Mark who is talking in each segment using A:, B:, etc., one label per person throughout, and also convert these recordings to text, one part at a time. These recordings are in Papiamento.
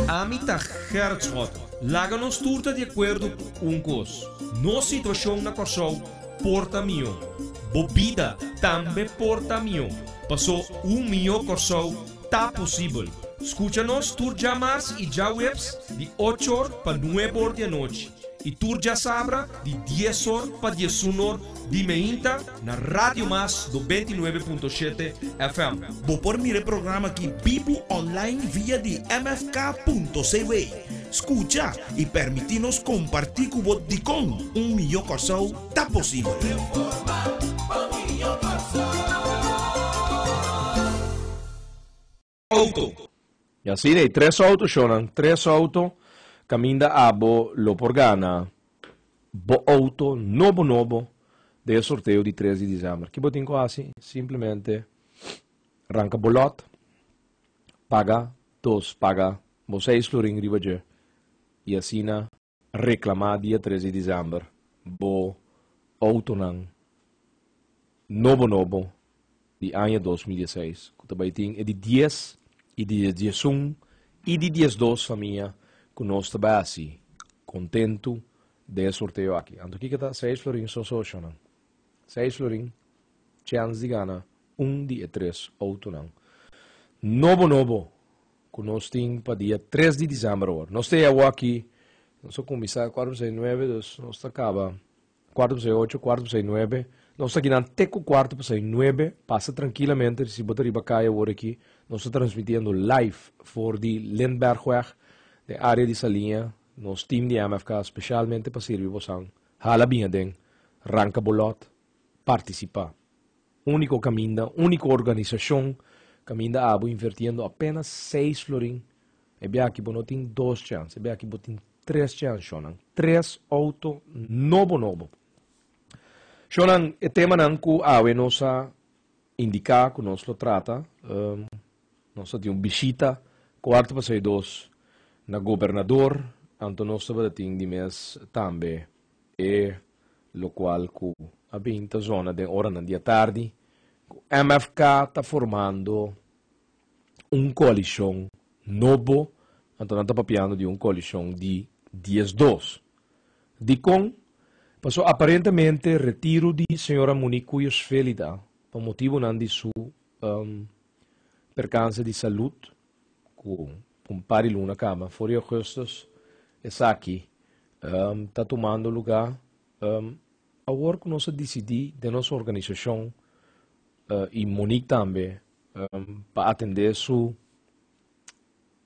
A: Ami ta Gerrit Schotten. Laga nos tur ta di akuerdo ku un kos, nos situashon na Kòrsou por ta mihó. Bo bida tambe por ta mihó. Pasó un mihó Kòrsou ta posibel. Skucha nos tur djamars i djaweps di ocho or pa nuebe or di anochi i tur djasabra di dies or pa diesun or di meinta. Na Radio Mas do bintinuebe punto shete FM. Bo por mira e
B: programa aki bibu online via di mfk.cw. Scucha y permiti nos comparti cu bo dicon un mijo Corsou ta posibel.
A: auto. Y así
C: de tres auto shonan, tres auto caminda abo lo por gana bo auto nobo nobo den e sorteo di tres di diciember. Ki bo tin cu haci? Simplemente ranca bo lot, paga dos, paga bo seis florin riba dje y asina. Reclama dia tres di December bo autonan nobo nobo di aña dos mil diesseis cu ta bay tin e di dies y di diesun y di diesdos famia cu nos ta bay haci contento den e sorteo aki. Anto kico ta seis florin so socionan? Seis florin chance di gana un di e tres autonan nobo nobo. Ku nos tin pa dia tres di December awor. Nos ta e awor aki, nos a kuminsá kuater pasai nuebe, dus nos ta kaba kuater pasai ocho, kuater pasai nuebe. Nos ta kinan te ku kuarto pasai nuebe, pasa trankilamente, si bo ta riba kaya awor aki, nos ta transmitiendo live for di Lindbergweg, den área di Saliña, nos tim di MFK speshalmente pa sirbi bosan. Hala bin aden, ranka bo lòt, partisipá. Úniko kaminda, úniko organisashon kaminda abo invertiendo apénas seis florin, e biachi bo no tin dos chèns, e biachi bo tin tres chèns, shònan. Tres outo nobo nobo. Shònan, e temanan ku awe nos a indiká ku nos lo trata, nos a tin un bishita kuartu pasá e dos na gobernador, anto nos tabata tin di mes tambe. E lokual ku a bin ta zona den oranan di atardi ku MFK ta formando un koalishon nobo, anto nan ta papiando di un koalishon di dies dos. Dikon? Paso aparentemente retiro di señora Monique Cuyos Velida pa motibunan di su perkanse di salud cu un par di luna cama for di augustus esaki ta tumando luga awor cu nos a dicidi den nos organisacion y Monique tambe pa atende su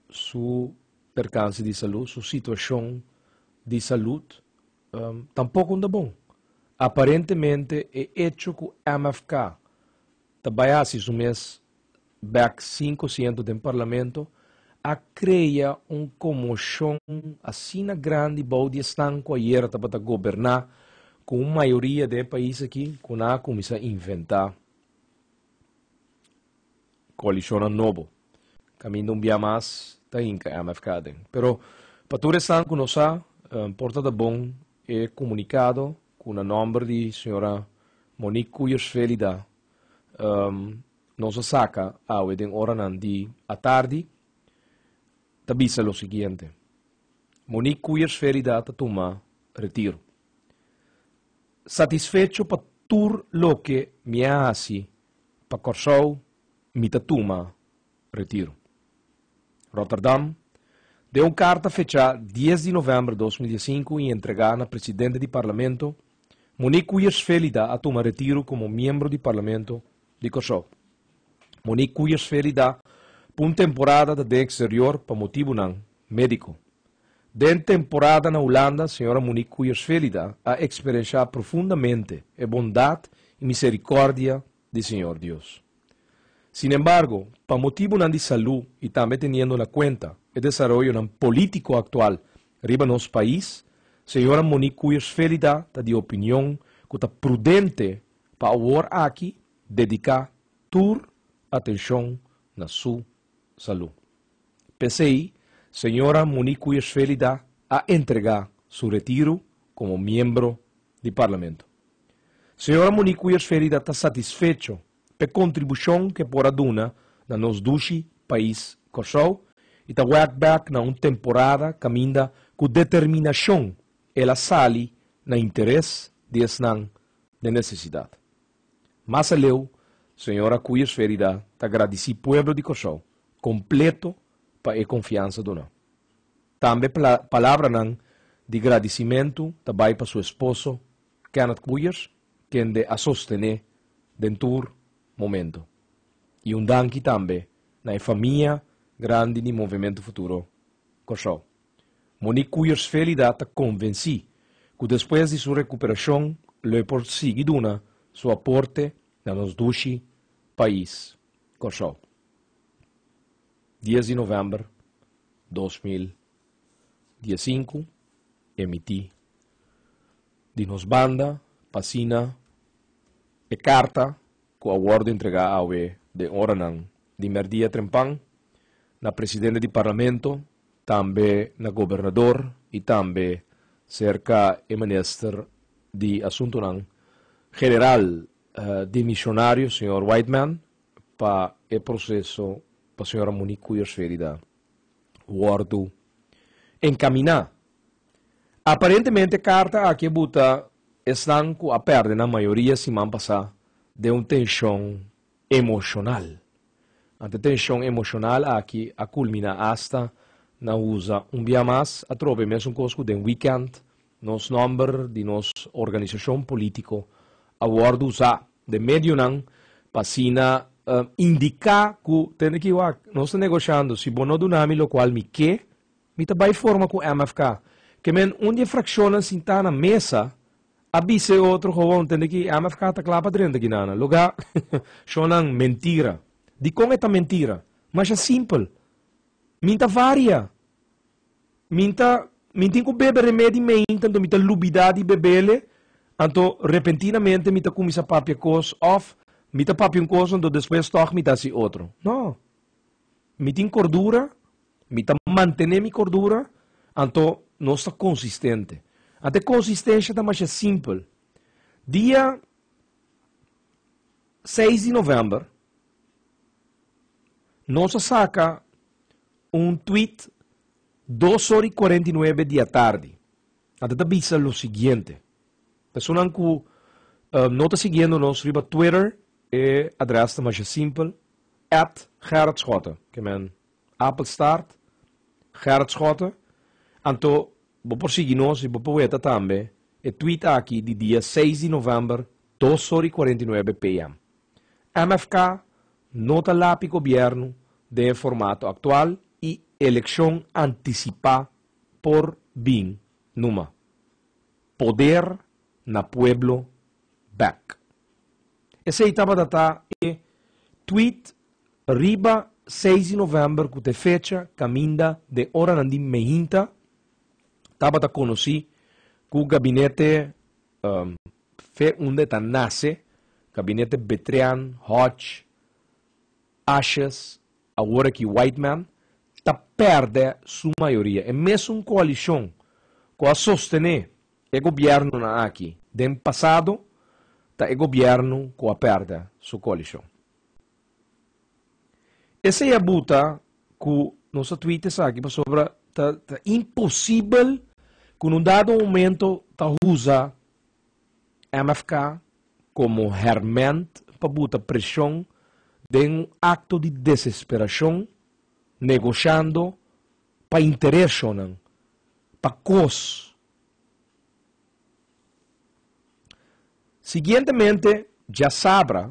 C: su percance di salud su situacion di salud tampoco ta bon aparentemente e hecho cu MFK ta bay haci su mes bek sinku siento den parlamento a krea un komoshon asina grandi bou di esnan ku ayera tabata goberná ku un mayoria den e pais aki ku nan a kuminsá inventá koalishonnan nobo. Kaminda un bia mas ta hinka MFK aden. Pero pa tur esnan ku no sa, por tabata bon e komunikado ku na nòmber di señora Monique Kuijers Velida nos a saca awe den oranan di atardi, ta bisa lo siguiente, Monique Coeyersferida ta tuma retiro. Satisfecho pa tur loke mi a haci pa Corsou, mi ta tuma. Retiro. Rotterdam, Den un karta fechá dies di novèmber dos mil diesinku i entregá na presidente di Parlamento, Monique Kuijers-Velida a tuma retiro komo miembro di Parlamento di Kòrsou. Monique Kuijers-Velida pa un temporada ta den eksterior pa motibunan médiko. Den temporada na Hulanda, señora Monique Kuijers-Velida a eksperenshá profundamente e bondat i miserikòrdia di Siñor Dios. Sin embargo, pa motibunan di salú i tambe teniendo na kuenta e desaroyonan polítiko aktual riba nos pais, señora Monique Kuijsvelida ta di opinion ku ta prudente pa awor aki dediká tur atenshon na su salú. P'esei, señora Monique Kuijsvelida a entregá su retiro komo miembro di Parlamento. Señora Monique Weersverida ta satisfecho p'e kontribushon k'e por a duna na nos dushi pais Kòrsou i ta wèk bèk na un temporada kaminda ku determinashon el a sali na interes di esnan den nesesidat. Mas aleu señora Weersverida ta gradisí pueblo di Kòrsou kompleto pa e konfiansa duná. Tambe palabranan di gradisimentu ta bai pa su esposo Kenneth Coeyer kende a sostené den tur momento. I un danki tambe na e famia grandi di Movemento Futuro Kòrsou. Monique Coeyers Velida ta konvensí ku despues di su rekuperashon lo e por sigui duna su aporte na nos dushi pais, Kòrsou. Dies di novèmber dos mil Dia sinku, e mití di nos banda pa asina e karta ku a wòrdu entregá awe den oranan di mèrdia trempan na presidente di Parlamento, tambe na gobernador i tambe serka e minister di Asuntunan General dimishonario, señor Whiteman, pa e proseso pa señora Monique Kuijers Ferida. wòrdu enkaminá. Aparentemente karta aki a buta esnan ku a pèrdè nan mayoria siman pasá den un tenshon emoshonal. Ante tenshon emoshonal aki a kulminá asta na usa un bia mas atrobe mesun kos ku den wikènt Nos nòmber di nos organisashon polítiko a wòrdu usá den medionan pa asina indiká ku, tende aki wak, nos ta negoshando, si bo no duna mi lokual mi ke, mi ta bai forma ku MFK. Ke men un di e frakshonnan sintá na mesa a bisa e otro, Gewoon, tende aki, MFK ta kla pa drenta Guinana. Loga, shonnan, mentira. Dikon e ta mentira? Masha simpel. Mi ta varia. Min ta min tin ku bebe remedi mainta anto mi ta lubida di bebele anto repentinamente mi ta kuminsa papia kos of mi ta papia un kos anto despues tog mi ta hasi otro no mi tin kordura mi ta mantene mi kordura anto nos ta konsistente anto e konsistensha ta masha simpel dia seis di november nos a saka. un tweet dos ora i kuarenta i nuebe di atardi a ta ta bisa lo siguiente, Personanan ku no ta siguiendo nos riba Twitter e adrès ta masha simpel, at Gerard Schotten, ke men Apelstaart Gerard Schotten, anto bo por sigui nos i bo por weta tambe e tweet aki di dia seis di novèmber dos ora i kuarenta i nuebe PM. MFK no ta lapi gobierno den e formato actual y eleccion anticipa por bin numa. Poder na pueblo back. Esey tabata ta e tweet riba seis di november cu ta e fecha caminda den oranan di mehinta tabata conoci cu gabinete Fe unda e ta nase, gabinete Betrian, Hodge, Ashes, awor aki Whiteman, ta perde su mayoria. E mesun coalicion cu a sostene e gobiernonan aki den pasado, ta e gobierno cu a perde su coalicion. Esei a buta ku nos a tweet esaki pasobra ta ta imposibel ku un dado momento ta usa MFK komo hèrmènt pa buta preshon den un akto di desesperashon negoshando pa intereshonnan, pa kos. Siguientemente djasabra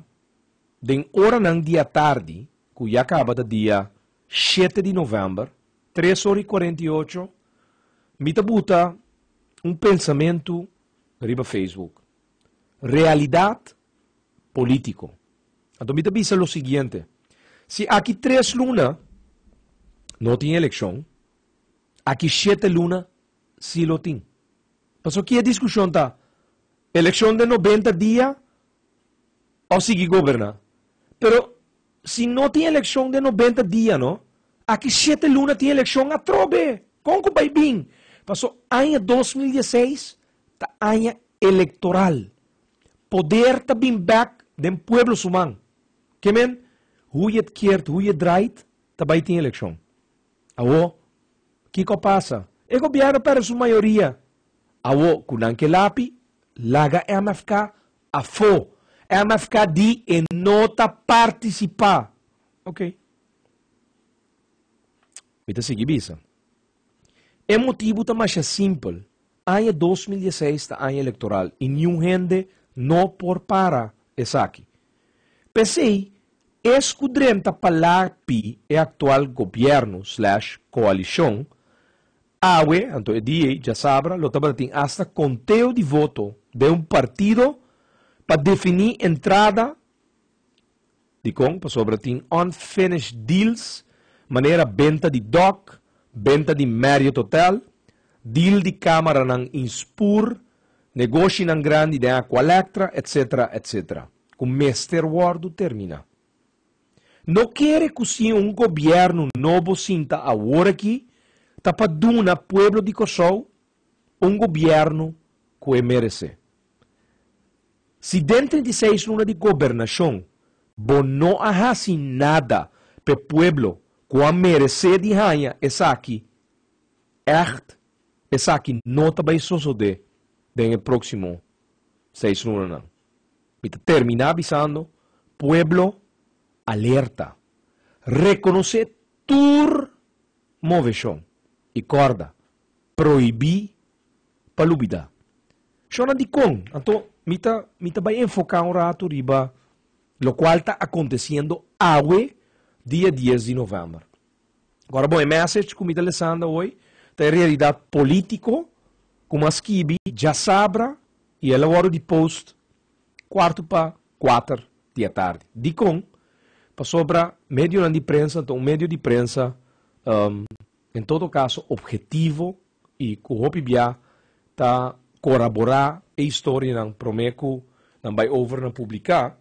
C: Den oranan di atardi ku ya kaba ta dia shete di novèmber, tres ora i kuarenta i ocho, mi ta buta un pensamentu riba Facebook, Realidat polítiko. Anto mi ta bisa lo siguiente, si aki tres luna no tin elekshon, aki shete luna si lo tin. Pasobra ki e diskushon ta elekshon den nobenta dia o sigui goberna. Pero si no tin eleccion den nobenta dia no, aki shete luna tin eleccion atrobe, con cu bay bin? Paso aña dos mil diesseis ta aña electoral, poder ta bin back den pueblo su man, ke men hu je het keert hu je het draait ta bay tin eleccion. Awo kiko pasa? E gobierno perde su mayoria Awo ku nan ke lapi, laga MFK afó. MFK di e no ta partisipá. Oké. Mi ta sigui bisa. E motibu ta masha simpel. Aña dos mil diesseis ta aña elektoral i niun hende no por para esaki. P'esei, es ku drenta pa lapi e aktual gobièrnu slash koalishon Awe, anto e DA djasabra lo tabatatin asta konteo di voto den un partido pa definí entrada dikon pasobra tin unfinished deals manera benta di Dock, benta di Marriot Hotel, deal di kamaranan in Spur, negoshinan grandi den Aqualectra, etsetera, etsetera, ku mester wòrdu terminá. No kere ku si un gobièrnu nobo sinta awor aki ta pa duna pueblo di Kòrsou un gobièrnu ku e meresé. Si den trinta i seis luna di gobernashon bo no a hasi nada pa e pueblo ku a meresé di haña esaki ègt, esaki no ta bai sosodé den e próksimo seis lunanan. Mi ta terminá bisando, pueblo alerta, rekonosé tur moveshon i kòrda, prohibí pa lubidá. Shonnan dikon? Anto mi ta mi ta bai enfoká un ratu riba lokual ta akontesiendo awe dia dies di novèmber. Kòrda bon, e mèsech ku mi ta lesanda hoy ta e realidat polítiko ku mi a skibi djasabra I el a wòrdu deposed kuartu pa kuater di atardi. Dikon? Pasobra medionan di prensa ta un medio di prensa, en todo kaso, ophetivo i ku hopi bia ta koraborá e historianan promé ku nan bai over na publiká.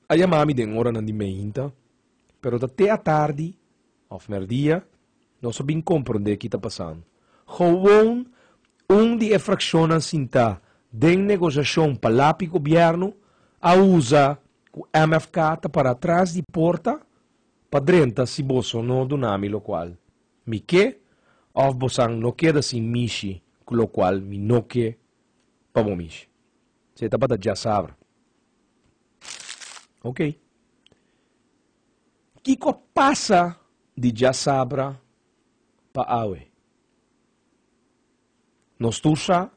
C: A yama mi den oranan di meinta, pero ta te atardi òf merdia nos a bin komprondé ki ta pasando. Gewoon un di e frakshonnan sintá den negosiashon pa lapi gobièrnu a usa ku MFK ta pará tras di porta pa drenta si boso no duna mi lokual mi ke òf bosan no keda sin mishi ku lokual mi no ke pa bo mishi. Esei tabata djasabra. Ok. Kiko pasa di djasabra pa awe? Nos tur sa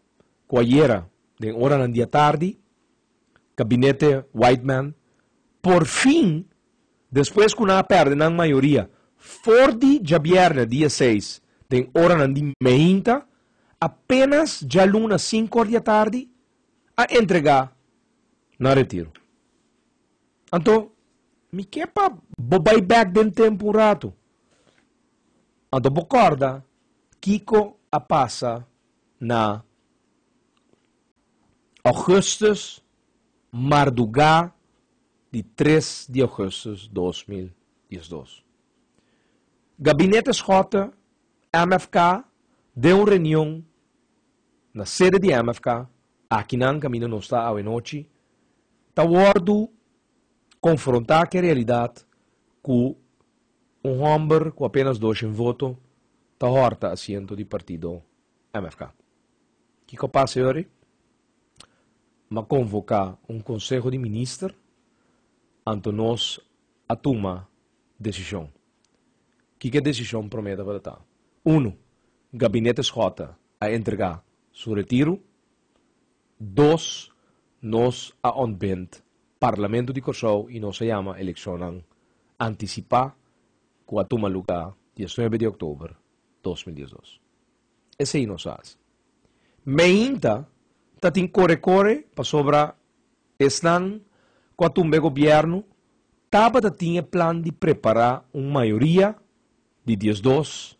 C: ku ayera den oranan di atardi Gabinete Whiteman por fin, despues ku nan a pèrdè nan mayoria for di djabièrnè dia seis den oranan di meinta, apenas djaluna sinku òr di atardi a entregá na retiro. Anto mi ke pa bo bai bèk den tempu un ratu. Anto bo kòrda kiko a pasa na ògùstus, mardugá di tres di ògùstus dos mil diesdos. Gabinete Schotten MFK den un reunion na sede di MFK akinan kaminda nos ta awe nochi ta wordu konfrontá ku e realidat ku un hòmber ku apenas doshen voto ta hòrta asiento di partido MFK. Kiko a pasa e ora ei? M'a konvoká un konseho di minister anto nos a tuma Desishon. Kiko e desishon promé tabata ta? Unu, Gabinete Schotten a entregá su retiru. Dos, Nos a ontbind Parlamento di Kòrsou i nos a yama elekshonnan antisipá ku a tuma lugá diesnuebe di òktober dos mil diesdos. Esei nos a hasi. Meinta ta tin kore kore pasobra esnan ku a tumba e gobièrnu tabata tin e plan di prepará un mayoria di diesdos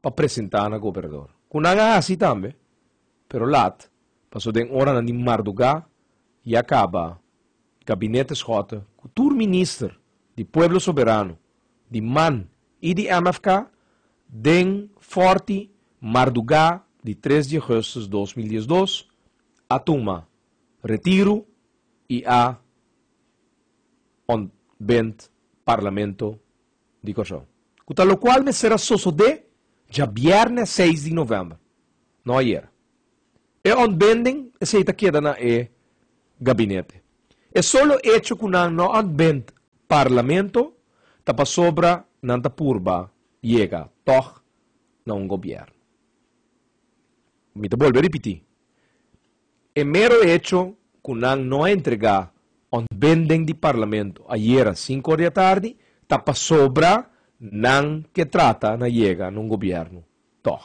C: pa presentá na gobernador, ku nan a hasi tambe, pero lat, paso den oranan di mardugá ya kaba Gabinete Schotten ku tur minister di Pueblo Soberano di man I di MFK den Forti mardugá di tres di Augustus dos mil diesdos a tuma retiru i a ontbend Parlamento di Kòrsou. Ku ta lokual mester a sosodé djabièrnè seis di novèmber, no ayera. E ontbinding esei ta keda na e gabinete. E solo echo ku nan no ontbind Parlamento ta pasobra nan ta purba yega tòg na un gobièrnu. Mi ta bolbe ripití, e mero echo ku nan no a entregá ontbinding di Parlamento ayera sinku or di atardi ta pasobra nan ke trata na yega na un gobièrnu. Tòg.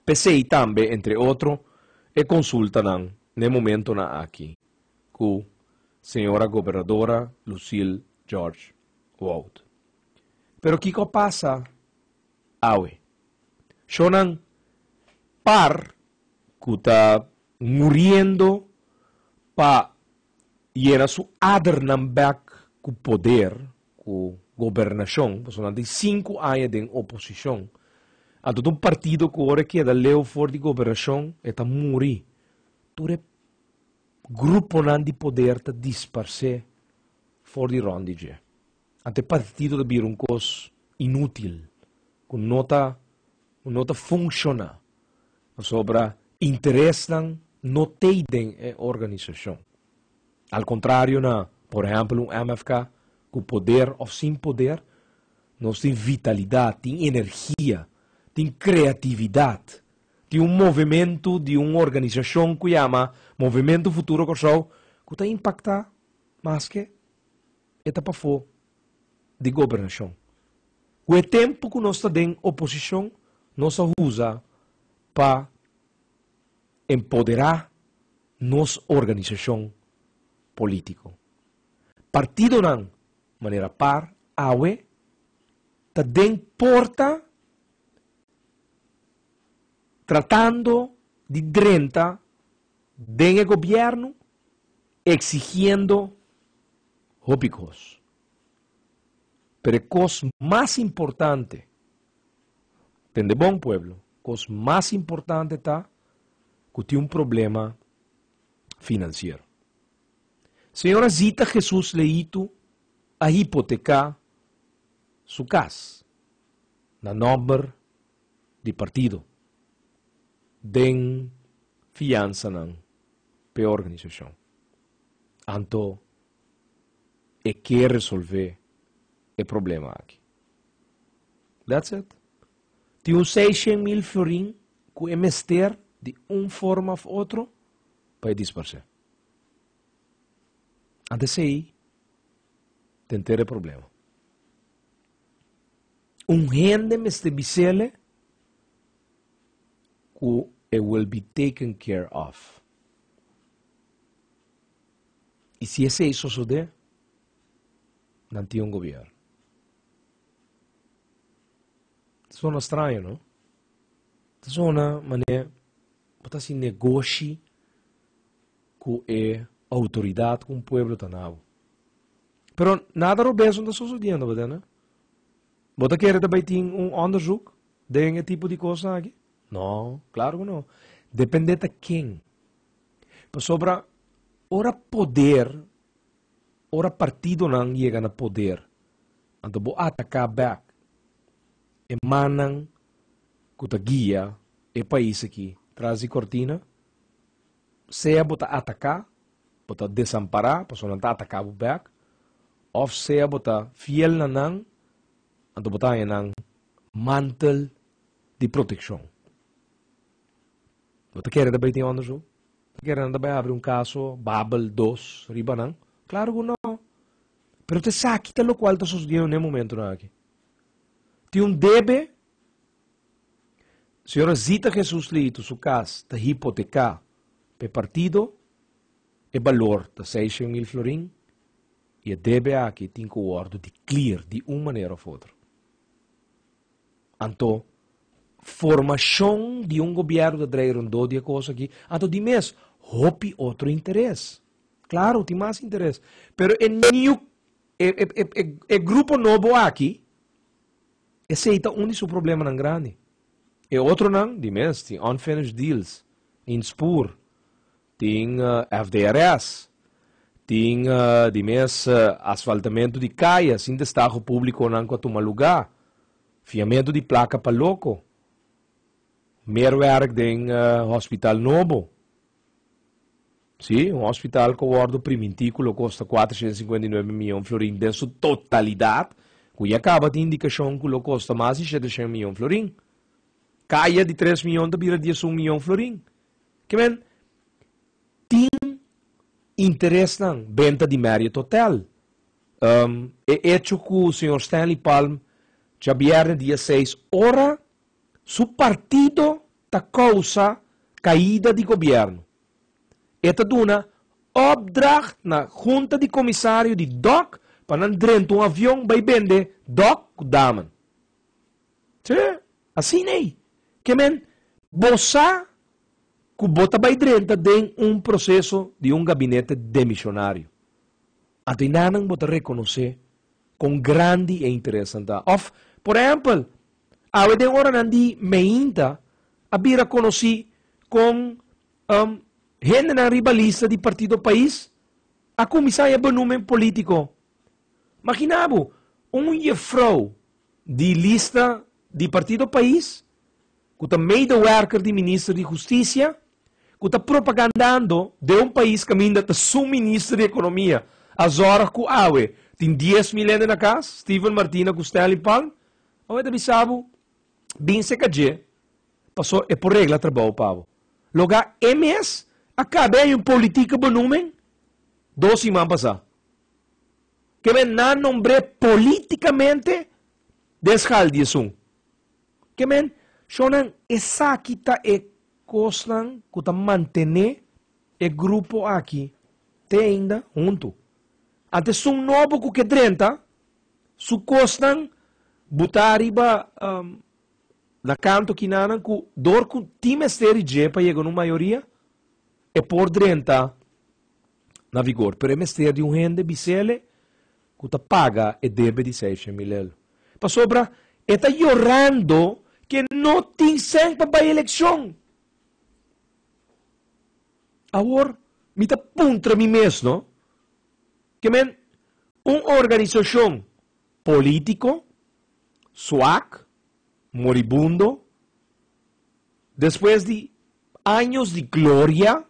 C: P'esei tambe, entre otro, e konsultanan n'e momentonan aki ku señora Gobernadora Lucille George Wout. Pero kiko pasa awe? Shownan par ku ta muriendo pa yena su adernan bek ku poder, ku gobernashon, pasobra nan tin sinku aña den oposishon. Anto ta un partido ku ora e keda leu for di gobernashon e ta muri. Tur e gruponan di poder ta disparsé for di rònt di dje. Anto e partido ta bira un kos inútil, ku no ta ku no ta funshoná, pasobra interesnan no t'ei den e organisashon. Al kontrario na, por ehèmpel, un MFK ku poder òf sin poder, nos tin vitalidat, tin energia, tin kreatividat, tin un movementu di un organisashon ku yama Movimento Futuro Kòrsou ku ta impaktá maske. e ta pafó di gobernashon. Ku e tempu ku nos ta den oposishon nos a usa pa empoderá nos organisashon polítiko. Partidonan, manera par awe, ta den porta tratando di drenta den e gobièrnu Exigiendo hopi kos. Pero e kos mas importante, tende bon pueblo, kos mas importante ta ku tin un problema finansiero. Señora Zita Jesús Leitu a hipoteká su kas na nòmber. di partido den fiansanan p'e organisashon. Anto e ke resolvé e problema aki. That's it. Tin un sei shen mil florin ku e mester di un forma of otro pa e disparsé. Ant esei te enter e problema. Un hende mester bisele ku e will be taken care of. I si esei sosodé, nan tin un gobièrnu. Ta sona straño, no? Ta sona manera bo ta hasi negoshi ku e outoridat ku un pueblo ta na bo. Pero nada robes no ta sosodiendo, bo ta na? Bo ta kere ta bai tin un onderzoek den e tipo di kosanan aki? No, klaro ku no. Depende ta ken. Pasobra ora poder, ora partidonan yega na poder, anto bo ataká bèk e mannan ku ta guia e pais aki tras di kortina, sea bo ta ataká, bo ta desampará, pasobra nan ta ataká bo bèk, òf sea bo ta fiel na nan, anto bo ta haña nan mantel di protekshon. Bo ta kere ta bai tin ònda su? Bo ta kere nan ta bai abri un kaso Babel dos riba nan? Klaru ku nò! Pero ta esaki ta lokual ta sosodiendi na e momentunan akí. Tin un debe Si ora zita Hesus lihitu su cas ta hipoteca p'e partido, e balor ta sei shen mil florin y e debe aki tin cu wordo di clear di un manera of otro. Anto formacion di un gobierno ta draai rondó di e cos aki, anto di mes hopi otro interes. Claro, tin mas interes, pero e new, e, e, e, e grupo nobo aki, Esei ta un di su problemanan grandi. E otronan, di mes, tin unfinished deals, in spoor, tin FDRS, tin di mes asfaltamentu di kaya sin testago publiconan cu a tuma lugá, fiamentu di placa pa loco, mer werk den hospital nobo, Sí, un hospital cu a wordo primintí cu lo costa cuatrocientos cincuenta y nueve miyon florin den su totalidad, cu ya caba tin indicacion cu lo costa mas di shetecien miyon florin. Caya di tres miyon ta bira diesun miyon florin. Ke men tin interesnan, benta di Marriott Hotel, ehm, e hecho cu señor Stanley Palm djabièrnè dia seis ora su partido ta causa caida di gobierno. E ta duna opdrag na hunta di komisario di dòk pa nan drenta un avion bai bende dòk ku daman. Tje, asin ei. Ke men, bo sa ku bo ta bai drenta den un proseso di un gabinete demishonario. A de nannan bo ta rekonosé kon grandi e interes nan ta. Òf, por ehèmpel, awe den oranan di meinta a bira konosí kon hendenan ribalista di partido Pais a kuminsá haña benumen polítiko. Maginá bo, un yefrou di lista di partido Pais ku ta medewerker di minister di hustisia, ku ta propagandando den un pais kaminda ta su minister di ekonomia, a zòrg ku awe tin dies mil hende na kas, Steven Martina ku Stanley Palm, awe ta bisa bo, Bin seka dje, paso e por regla trabou pa bo. Loga e mes a kabe año politika bonumen dos siman pasá. Ke men nan nombr'é polítikamente den sgal di esun. Ke men, shonnan, esaki ta e kosnan ku ta mantené e grupo aki te einda huntu. Ante esun nobo ku ke drenta, su kosnan butá riba na kantu kinanan ku dor ku tin mester i dje pa yega un mayoria, e por drenta na vigor. Pero e mester di un hende bisele ku ta paga e debe di seishen mil el. Pasobra e ta yorando ku e no tin sèn pa bai elekshon. Awor mi ta puntra mi mes no, ke men un organisashon polítiko, swak, moribundo, despues di años di gloria,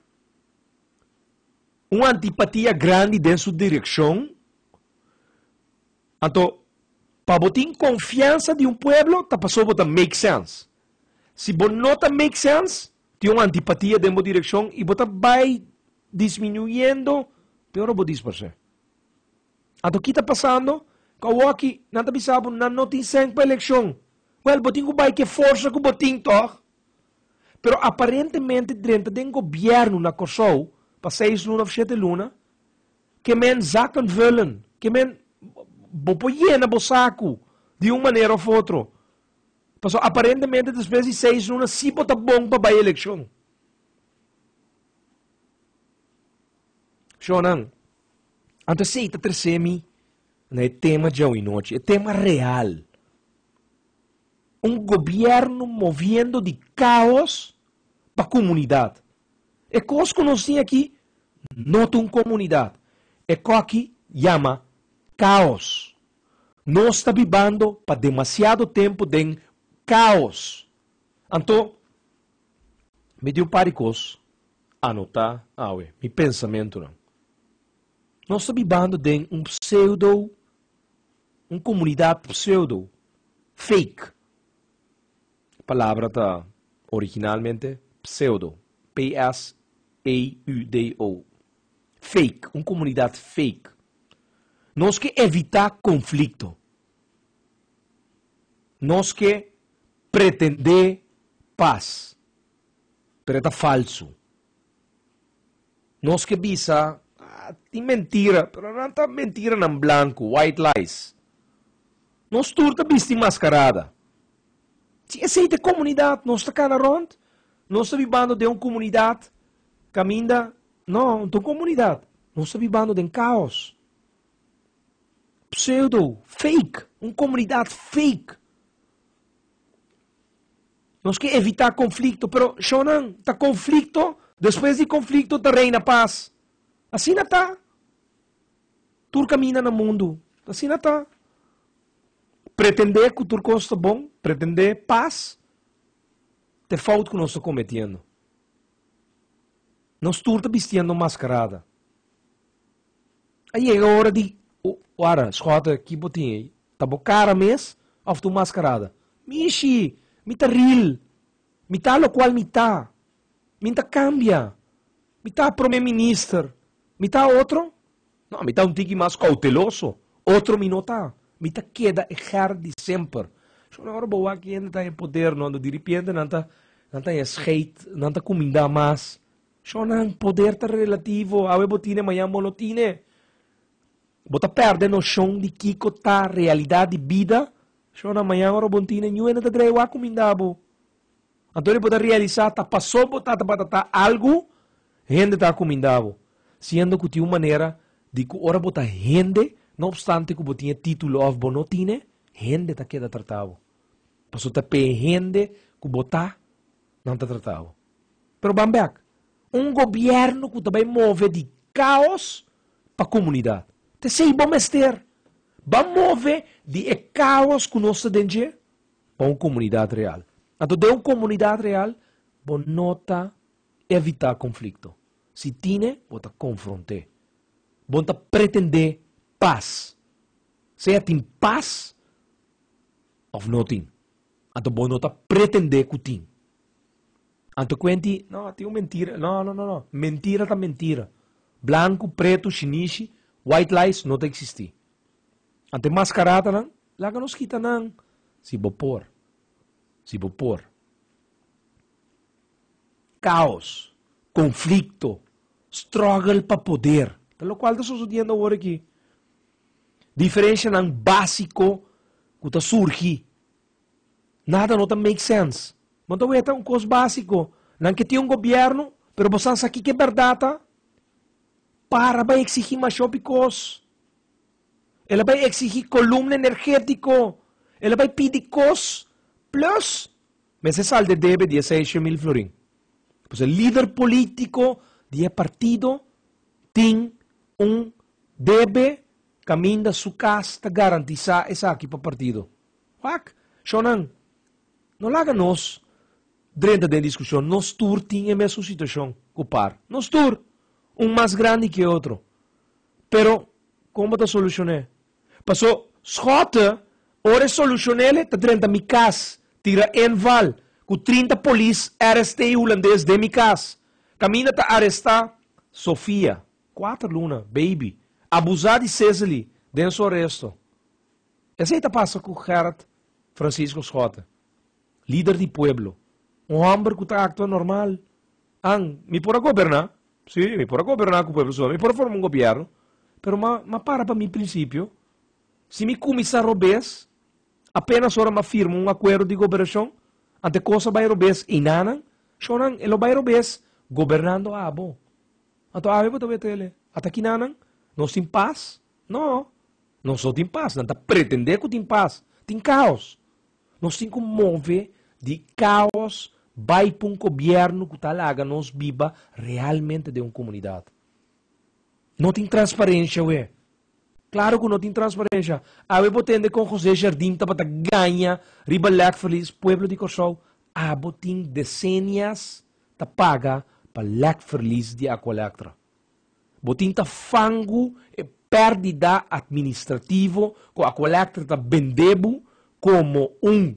C: un antipatia grandi den su direkshon, anto pa bo tin konfiansa di un pueblo ta pasobra bo ta make sense. Si bo no ta make sense, tin un antipatia den bo direkshon i bo ta bai disminuyendo te ora bo disparsé. Anto ki ta pasando? Ku awoki nan ta bisa bo nan no tin sèn pa elekshon. Wèl, bo tin ku bai ku e forsa ku bo tin tòg. pero aparentemente drenta den gobièrnu na Kòrsou pa seis luna òf shete luna, ke men zakken vullen, ke men bo por yena bo saku di un manera òf otro, pasobra aparentemente despues di seis luna si bo ta bon pa bai elekshon. Shònan, anto esei ta trese mi na e tema djou e nochi, e tema real. Un gobierno moviendo di caos pa comunidad. E cos cu nos tin aki no ta un comunidad. E co aki yama caos. Nos ta bibando pa demasiado tempo den caos. Anto, mi tin un par di cos anota awe, mi pensamentonan. Nos ta bibando den un pseudo Un komunidat pseudo, fake. E palabra ta originalmente pseudo, p-s-e-u-d-o, fake, un komunidat fake. Nos ke evitá konflikto. Nos ke pretendé pas, pero e ta falsu. Nos ke bisa, Ah, tin mentira, pero nan ta mentiranan blanku, white lies. Nos tur ta bisti maskarada. Si esei ta e komunidat, nos ta kana rònt? Nos ta bibando den un komunidat kaminda, no, no ta un komunidat, nos ta bibando den kaos. Pseudo, fake, un komunidat fake. Nos ke evitá konflikto, pero shonnan ta konflikto, despues di konflikto ta reina pas. Asina ta. Tur kaminda na mundu asina ta. Pretendé ku tur kos ta bon, pretendé pas, ta e fout ku nos ta kometiendo. Nos tur ta bistiendo un maskarada. A yega ora di wara, schotten, ki bo tin ei? Ta bo cara mes of ta un mascarada? Mishi! Mi ta real! Mi ta locual mi ta! Mi n'ta cambia! Mi ta Prome Minister! Mi ta otro? No, mi ta un tiki mas cauteloso. Otro mi no ta. Mi ta keda e ger di semper. Shon, ora bo wak hende ta den poder, no, diripiente nan ta, nan ta hesgeit, nan ta cuminda mas. Shonnan, poder ta relativo. Awe bo tine, mañan bo no tine. Bo ta pèrdè noshon di kiko ta realidat di bida. Shonnan, mañan ora bo no tine, ñuhende ta dreha wak ku minda bo. Anto di bo ta realisá ta pasó bo tata patatá algu, hende ta ku minda bo. Siendo ku tin un manera di ku ora bo ta hende, no opstante ku bo tin e título òf bo no tine, hende ta keda tratá bo. Pasobra ta p'e hende ku bo ta nan ta tratá bo. Pero ban bèk, un gobièrnu ku ta bai move di kaos pa komunidat, ta esei bo mester ban move di e kaos ku nos ta den dje pa un komunidat real. Anto den un komunidat real bo no ta evitá konflikto, si tine bo ta konfront'é, bo no ta pretendé pas, sea tin pas òf no tin. Anto bo no ta pretendé ku tin. Anto kuenti, no, tin un mentira. No, no, no, no. Mentira ta mentira. Blanku, pretu, shinishi, white lies no ta eksistí. Anto e maskaratanan, laga nos kita nan si bo por. Si bo por. Kaos, konflikto, struggle pa poder, ta lokual ta sosodiendo awor aki. diferenshanan básiko ku ta surgi. Nada no ta make sense. Bo ta weta un kos básiko, nan ke tin un gobièrnu, pero bo san sa kiko bèrdat ta? Para bai eksigí masha hopi kos. El a bai eksigí kolumna energétiko, el a bai pidi kos, plùs Mester salde debe di e seishen mil florin. Pues e lider politico di e partido tin un debe caminda su cas ta garantisa esaki pa partido. Wak, shownan, no laga nos drenta den discusion. Nos tur tin e mesun situacion cu par. Nos tur, un mas grandi cu e otro. Pero con bo ta solucione? Paso Schotte ora e solucionele ta drenta mi cas, tira en val cu trinta polis RST Hulandes den mi cas. Caminda ta aresta Sofia, cuater luna, baby, abusa di Cecily den su aresto. Esey ta pasa cu Gerrit Francisco Schotte, lider di pueblo, un homber cu ta actua normal, An, mi por a goberná, sí, mi por a goberná ku pueblo suba, mi por a forma un gobièrnu, pero m'a m'a para pa mi prinsipio. Si mi kuminsá robes, apénas ora m'a firma un akuerdo di goberashon, ante kos a bai robes einanan, shònan e lo bai robes gobernando abo. Anto awe bo ta wete el'e ata kina nan nos tin pas? No, nos no tin pas, nan ta pretendé ku tin pas, tin kaos. Nos tin ku move di kaos bai pa un gobièrnu ku ta laga nos biba realmente den un komunidat. No tin transparensha we. Klaru ku no tin transparensha. Awe bo tende kon José Jardim tabata gaña riba Lek Verlies? Pueblo di Kòrsou, abo tin desenias ta paga pa Lek Verlies di Aqualectra. Bo tin ta fangu e perdida administrativo cu Aqualectra ta bende bo como un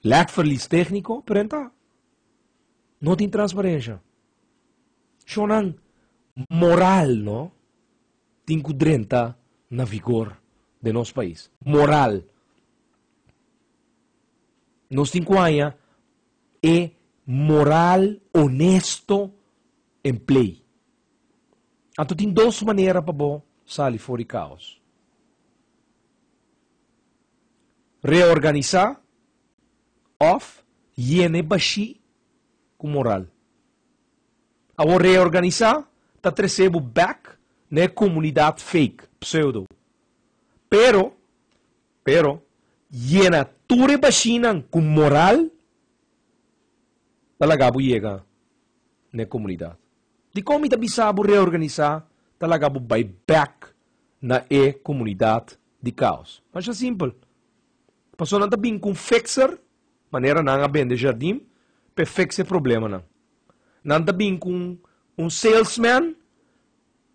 C: lekverlies tecnico? Prenta. No tin transparencia. Shonan moral no tin cu drenta na vigor den nos pais. Moral. Nos tin cu haya e moral honesto en plei. Anto tin dos manera pa bo sali for di kaos, reorganisá òf yena e bashí ku moral. Awor reorganisá ta tresé bo bèk na e komunidat fake, pseudo. Pero, pero, yena tur e bashinan ku moral pa laga bo yega n'e komunidat. Dikon mi ta bisa bo reorganisá ta laga bo bai bèk na e komunidat di kaos? Masha simpel. Pasobra nan ta bini ku un fixer, manera nan a bende jardin, pa e fiks e problemanan. Nan ta bini ku un salesman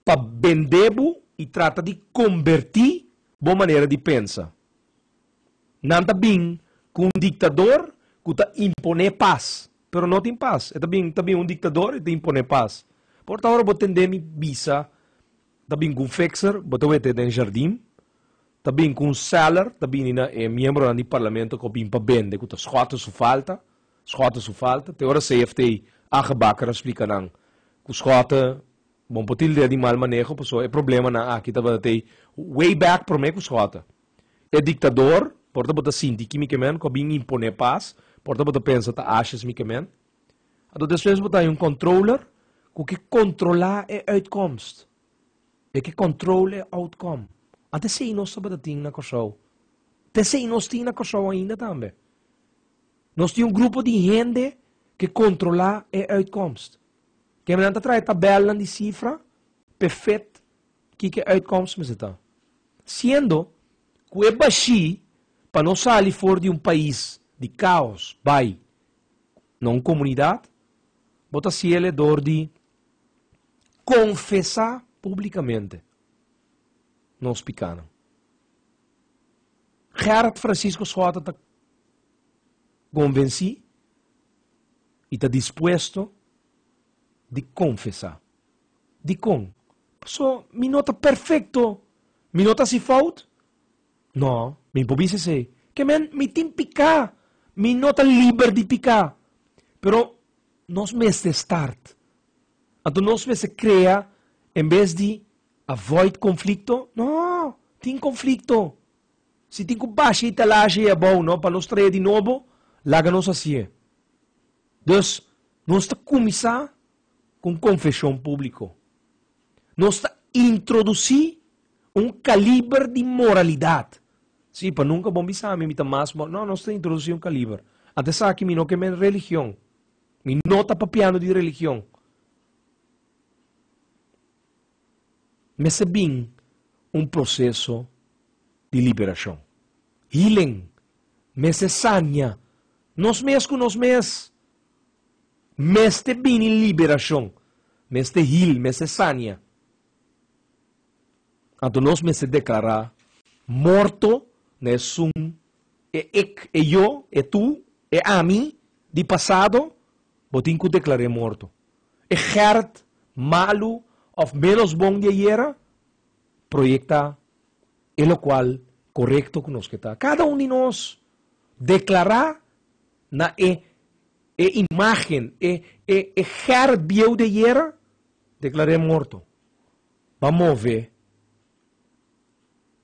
C: pa bende bo i trata di kombertí bo manera di pensa. Nan ta bin ku un diktador ku ta imponé pas, pero no tin pas. E ta bin ta bin un diktador i ta imponé pas. Por ta ora bo tendé mi bisa ta bin ku un fixer, bo ta wete den jardin, ta bin ku un seller, ta bini na e miembronan di parlamento ku a bin pa bende ku ta skòt su falta, skòt su falta. Te ora CFT Age Bakker a splika nan ku skòt bo no por tild'é di mal maneho pasobra e problemanan aki tabatin way back promé ku skòt. E diktador, por ta bo ta sinti kimikamènt ku a bin imponé pas, por ta bo ta pensa ta ashes mikamènt. Anto despues bo ta haña un controller ku ke kontrolá e uitkomst. E ke control e outkom. Ant esei nos tabata tin na Kòrsou. Ta esei nos tin na Kòrsou ainda tambe. Nos tin un grupo di hende ke kontrolá e uitkomst. Kende nan ta traha e tabèlnan di sifra pefet Kiko e uitkomst mester ta? Siendo ku e bashí pa no sali for di un pais di kaos bai na un komunidat, bo ta siele dor di konfesá públikamente nos pikánan. Gerard Francisco Schotten ta konvensí i ta dispuesto di konfesá. Dikon? Paso mi no ta perfekto. Mi no ta hasi fout? No, mi por bisa esei. Ke men, mi tin piká. Mi no ta liber di piká. Pero nos mester start. Anto nos mester krea, en bes di avoid konflikto, no, tin konflikto. Si tin ku basha i talasha ei abou, no, pa nos trae di nobo, laga nos hasié. Dus, nos ta kuminsá. ku un konfeshon públiko. Nos ta introdusí un kaliber di moralidat. Sí, pa nunka bon bisa mi mi ta mas moral. No, nos ta introdusí un kaliber. Ant esaki mi no ke men religion. Mi no ta papiando di religion. Mester bin un proseso di liberashon. Healing. Mester saña nos mes ku nos mes. Mester bini liberashon, mester hil, mester sania. Anto nos mester deklará morto na esun, e ik, e yo, e tu, e ami di pasado, bo tin ku deklar'é morto. E Gert malu òf ménos bon di ayera proyektá e lokual korekto ku nos ke ta. Kada un di nos deklará na e E imágen, e, e, e ger bieu di ayera, declar'é morto. B'a move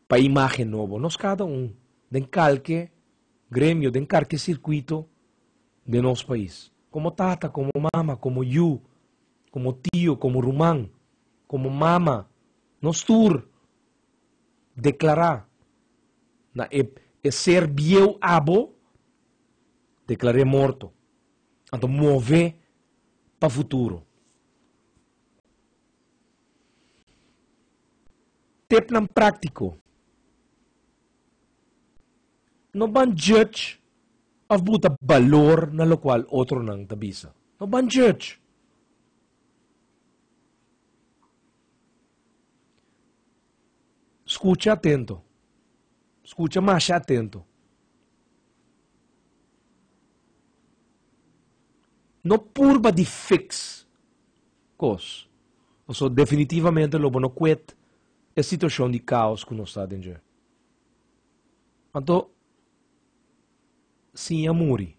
C: pa e imágen nobo. Nos cada un, den calke gremio, den carke circuito den nos pais. Como tata, como mama, como yu, como tio, como ruman, como mama, nos tur. deklará na e e ser bieu abo, deklar'é morto, anto move pa futuro. Tepnan práktiko, No ban djudge òf buta balor na lokual otronan ta bisa. No ban djudge. Skucha atento. Skucha masha atento. No purba di fiks kos. Paso definitivamente lo bo no kwet e situashon di kaos ku nos ta den dje. Anto siña muri.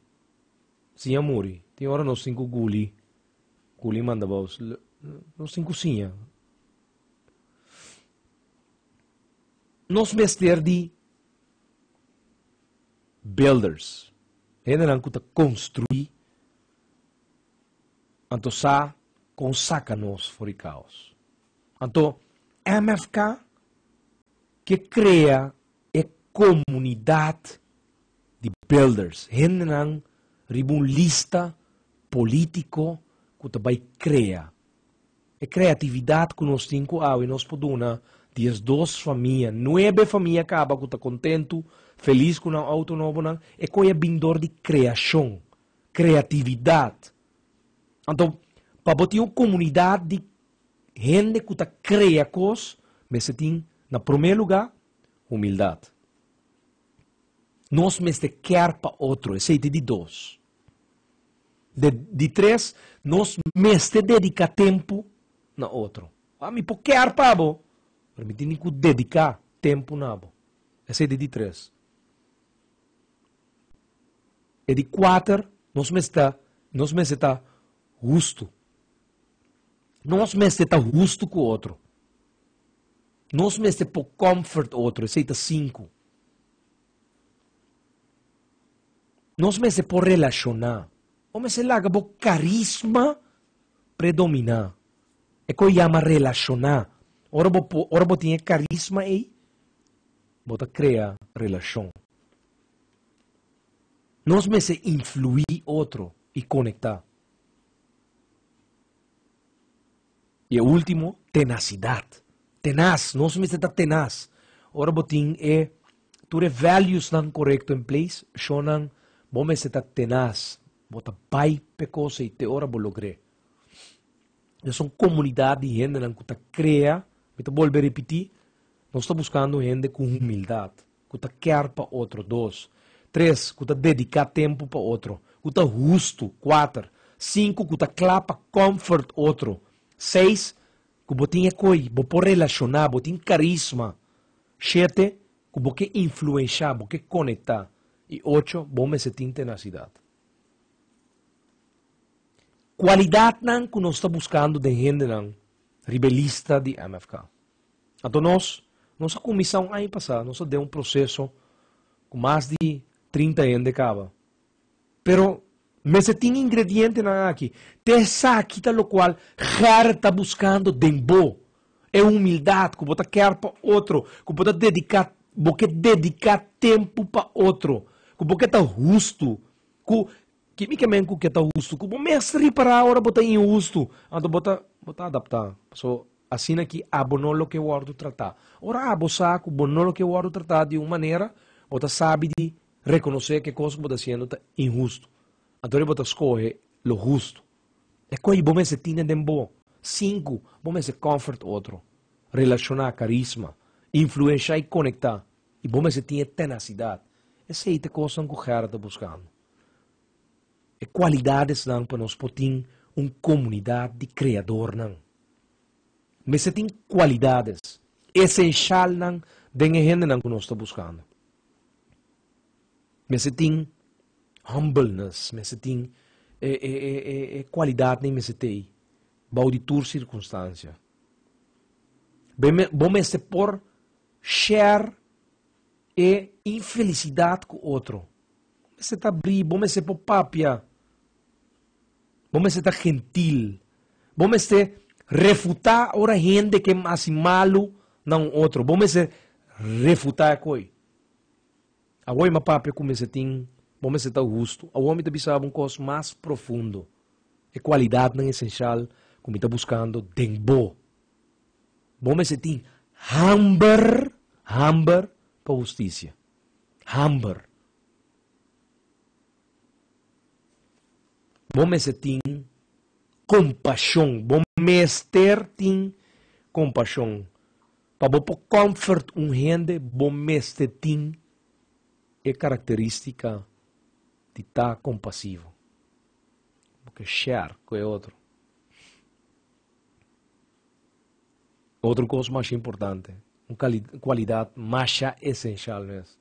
C: Siña muri. Tin ora nos tin ku guli. Culin manda bos nos tin cusiña. Nos mester di builders, hendenan cu ta construi, anto sa con saca nos for di caos. Anto MFK. Ke krea e komunidat di builders, hendenan riba un lista polítiko ku ta bai krea. E kreatividat ku nos tin ku awe nos por duna diesdos famia, nuebe famia kaba ku ta kontentu, felis ku nan outo nobonan, e koi a bin dor di kreashon, kreatividat. Anto pa bo tin un komunidat di Hende ku ta krea kos mester tin na promé lugá humildat. Nos mester kèr pa otro, esei ta di dos. De di tres, nos mester dediká tempu na otro. Mi por kèr pa bo, pero mi tene ku dediká tempu na bo. Esei ta di tres. E di kuater, nos mester ta hustu. Nos mester ta hustu ku otro. Nos mester por kòmfort otro, esei ta sinku. Nos mester por relashoná. Bo mester laga bo karisma predominá. E ku e yama relashoná. Ora bo por, ora bo tin e karisma ei, bo ta krea relashon. Nos mester influí otro i konektá. I e ultimo, tenasidad. Tenas, nos mester ta tenas. Ora bo tin e, tur e valuesnan korekto in place, shonnan bo mester ta tenas. Bo ta bai p'e kos ei te ora bo logr'é. Nos ta un komunidat di hendenan ku ta krea, mi ta bolbe ripití, nos ta buskando hende ku humildad. ku ta kèr pa otro, dos. Tres, ku ta dediká tempu pa otro, ku ta hustu, kuater. Sinku, ku ta kla pa kòmfort otro, seis, ku bo tin e koi, bo por relashoná, bo tin karisma, shete, ku bo ke influenshá, bo ke konektá, i ocho, bo mester tin tenasidat. Kualidatnan ku nos ta buskando den hendenan ribelista di MFK. Anto nos, nos a kuminsá un aña pasá, nos ta den un proseso ku mas di trinta hende kaba. Pero mester tin ingredientenan aki, te esaki ta lokual Gert ta buskando den bo, e humildat ku bo ta kèr pa otro, ku bo ta dediká, bo ke dediká tempu pa otro, ku bo ke ta hustu, ku Ki micamen cu ke ta hustu cu bo mes ripara ora bo ta inhustu? Anto bo ta bo ta adapta paso asina ki abo no lo ke wordo trata. Ora abo sa cu bo no lo ke wordo trata di un manera bo ta sabi di reconoce ke cos cu bo ta haciendo ta inhustu. Antori bo ta scoge lo hustu. E coy bo mester tine den bo. Sinku, bo mester comfort otro, relaciona, carisma, influencia y conecta y bo mester tin e tenacidad. Esey ta cosnan cu Gerard ta buscando. e kualidadesnan pa nos por tin un komunidat di kreadornan. Mester tin kualidades esensialnan den e hendenan ku nos ta buskando. Mester tin humbleness, mester tin e e e e kualidatnan i mester tei bou di tur sirkunstansia. Bo mester por share e infelisidat ku otro. Bo mester ta abrí, bo mester por papia, bo mester ta gentil, bo mester refutá ora hende ke hasi malu na un otro, bo mester refutá e koi. Awor mi a papia ku mester tin, bo mester ta hustu. Awor mi ta bisa bo un kos mas profundo, e kualidatnan esensial ku mi ta buskando den bo. Bo mester tin hamber, hamber pa hustisia. Hamber. Bo mester tin kompashon. Bo mester tin kompashon. Pa bo por kòmfert un hende, bo mester tin e karakteristika di ta kompasivo. Bo ke share ku e otro. Otro cos masha importante, un cualidad masha esencial no es,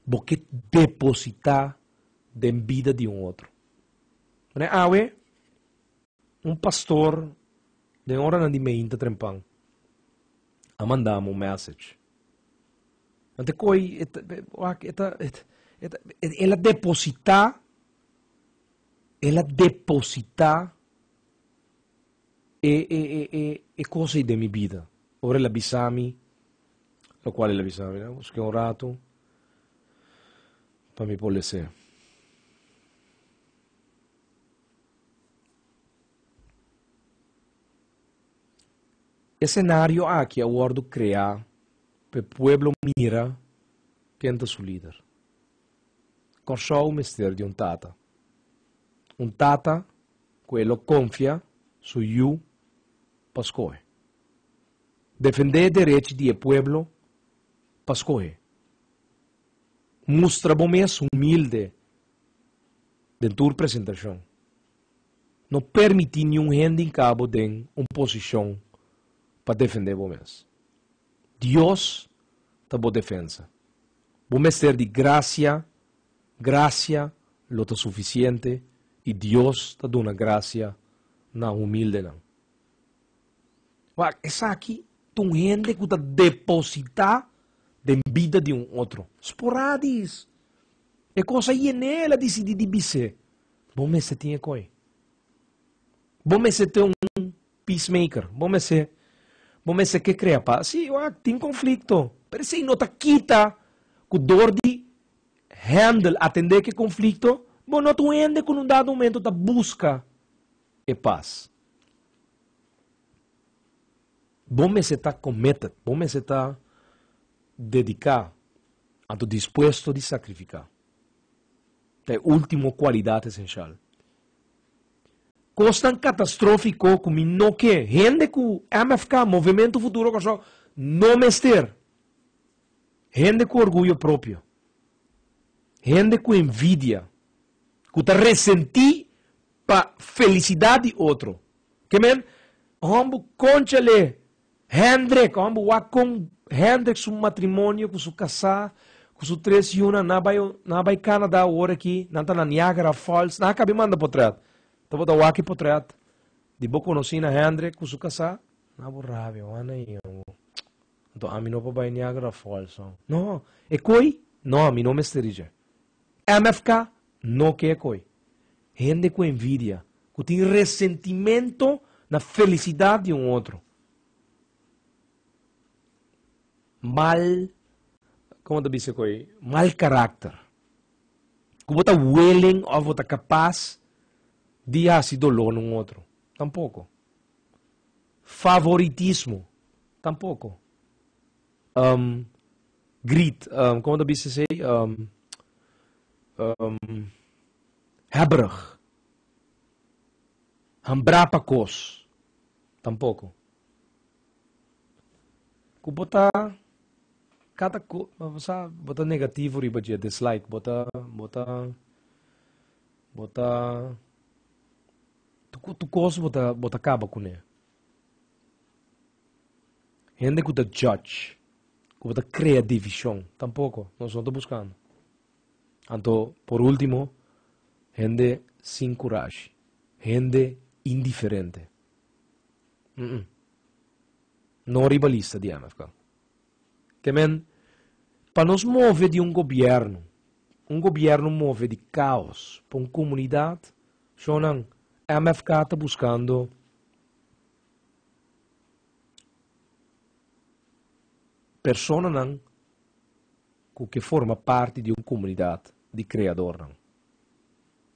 C: bo ke deposita den bida di un otro. Mira awe, un pastor den oranan di meinta trempan a mandanan un message. Nan ta koi, el a deposita, el a deposita e e e e e cosa ei den mi bida, ora el a bisa mi, lo cual el a bisa mi, nos ke un rato pa mi por lese. E scenario aki a wordo crea pa e pueblo mira ken ta su lider. Kòrsou mester di un tata. Un tata ku e lo konfia su yu pa skohe. Defendé derech di e pueblo pa skohe. Mustra bo mes humilde den tur presentashon. No permití niun hende inka bo den un posishon pa defendé bo mes. Dios ta bo defensa. Bo mester di gracia, gracia lo ta suficiente y Dios ta duna gracia na humildenan. Wak, esaki ta un hende cu ta deposita den bida di un otro, sporadis. E cosa aye ne el a dicidi di bis'e, bo mester tin e coi. Bo mester tin un Peacemaker. Bo mester bo mester ke krea pas. Sí, wak, tin konflikto. Pero esei no ta kita ku dor di handle, atendé ku e konflikto, bo no ta un hende ku un dado momento ta buska e pas. Bo mester ta committed, bo mester ta dediká, anto dispuesto di sakrifiká. Ta e último kualidat esensial. Kosnan katastrófiko ku mi no ke hende ku MFK, Movementu Futuro Kòrsou, no mester. Hende ku orguyo propio. Hende ku envidia. Ku ta resentí pa felisidat di otro. Ke men, hombu konchale Hendrik, Homber wak con Hendrik su matrimonio cu su casá cu su tres yunan na bai na bai Canada awor aki nan ta na Niagara Falls nan a cabi manda potret ta bo ta wak e potret di bo conoci na Hendrik cu su casá na bo rabia wan na i homber enton ami no por bai Niagara Falls no e coi no mi no mester di dje MFK no ke koe hende ku envidia, ku tin resentimento na felisidad di un otro. Mal, como ta bisa koe, mal karakter. Ku bo ta willing of bo ta kapas di hasi doló na un otro. Tampoko. Favoritismo, tampoko. Um, greet, um, como ta bisa sei? Um, um, hebberig. Hambra pa kos. Tampoco. Ku bota cada ko, sa, bota negativo riba je, dislike, bota, bota, bota, tu, tu kos bota, bota kaba kune. Hende ku ta judge, ku ta krea divishon, tampoko nos no ta buskando. Anto, por último, hende sin kurashi, hende indiferente. Uh-uh. No riba lista di MFK. Te men, pa nos move di un gobierno, un gobierno move di caos pa un comunidad, shonan MFK ta buscando Personanan ku ke forma parti di un komunidat di kreadornan.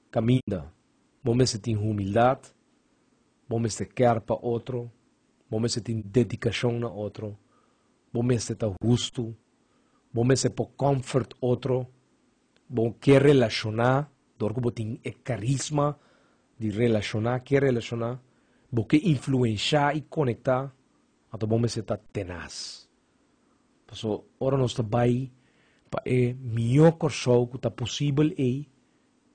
C: Kaminda bo mester tin humildat, bo mester kèr pa otro, bo mester tin dedikashon na otro, bo mester ta hustu, bo mester por kòmfort otro. Bo ke relashoná dor ku bo tin e karisma di relashoná, ke relashoná, bo ke influenshá i konektá, anto bo mester ta tenas. Paso ora nos ta bai pa e mihó Kòrsou ku ta posibel ei,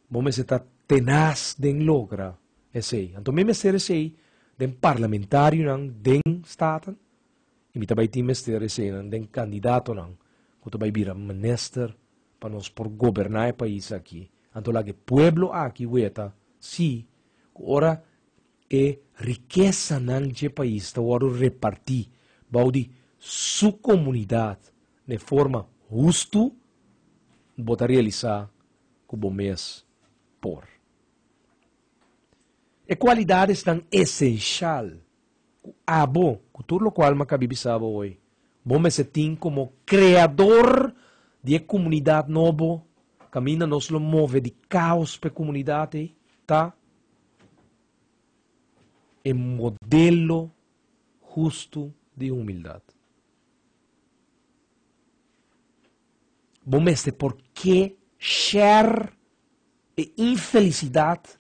C: bo mester ta tenas den logra esei. Anto mi mester esei den parlamentarionan, den Staten. y mi ta bay tin mester eseinan den candidatonan cu ta bay bira minister pa nos por goberna e pais aki, anto laga e pueblo aki weta si cu ora e rikesanan dje pais ta wordo reparti bao di su comunidad n'e forma hustu bo ta realisa cu bo mes por. E cualidadesnan esencial ku abo, ku tur lokual Makabi bisa bo hoy, bo mester tin komo kreador di e komunidat nobo, kaminda nos lo move di kaos pa e komunidat ei, ta e modelo hustu di humildat. Bo mester por ke share e infelisidat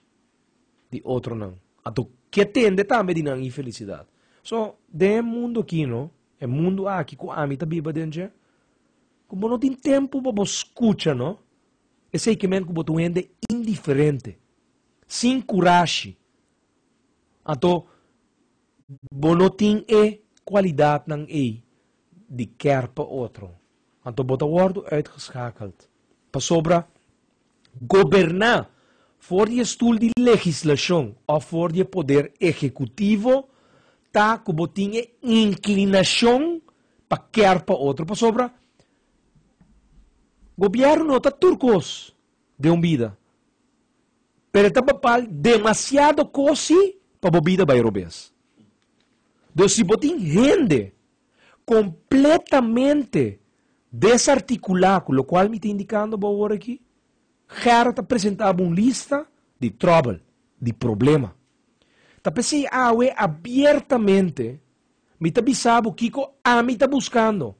C: di otronan. Anto, ke tende tambe di nan infelisidat? So, den e mundu akí, no, e mundu aki ku ami ta biba den dje, ku bo no tin tempu pa bo skucha, no, esei ke men ku bo ta un hende indiferente, sin kurashi, anto, bo no tin e kualidatnan ei di kèrpa otro, anto bo ta wòrdu uitgeschakeld. Pasobra. goberná for di e stul di legislashon òf for di e poder ehekutivo ta ku bo tin e inklinashon pa kèr pa otro. Pasobra gobièrnu no ta tur kos den un bida, pero e ta bapal demasiado kosi pa bo bida bai robes. Dor si bo tin hende. completamente desarticulá cu locual mi ta indicando bo awor aki, Gerrit a presenta bo un lista di trouble, di problema. Ta p'e si awe abiertamente mi ta bisa bo kico ami ta buscando,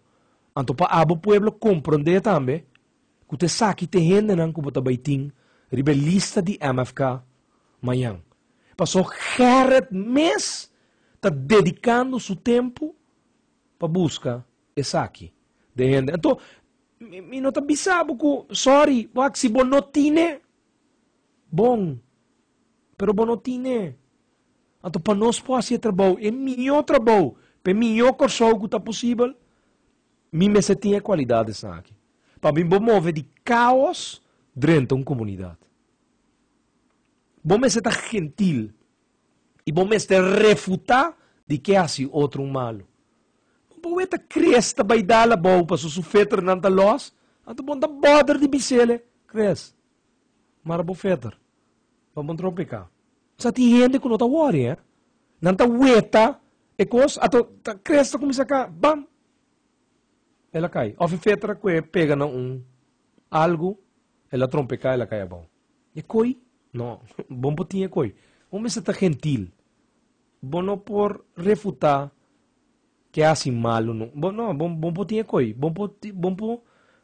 C: anto pa abo pueblo comprende tambe ku ta esaki t'e hendenan ku bo ta bai tin riba e lista di MFK mañan. Pasó Gerrit mes ta dedikando su tempu pa buska esaki den hende. Anto mi mi no ta bisa bo ku sòri, wak si bo no tine bon, pero bo no tine. Anto pa nos por hasi e trabou, e mihó trabou, p'e mihó Kòrsou ku ta posibel, Mi mester tin e kualidat esaki. Pa mi bo move di kaos drenta un komunidat. Bo mester ta gentil i bo mester refutá di ke hasi otro un malu. Bo wet a Kris ta bai dal abou paso su feternan ta lòs, anto bo no ta bòder di bis'el, Kris, mara bo feter. Bo bon tropica. Sa tin hende cu no ta worry eh. Nan ta weta e cos ato ta cres ta cuminsa ca bam el a cay. Of e fetra cu e pega na un algo el a trompeca el a cay abao. E coy no bo por tin e coy. Bo mester ta gentil. Bo no por refuta ke hasi malo no. Bo no bo por tin e coy. Bo por tin bo por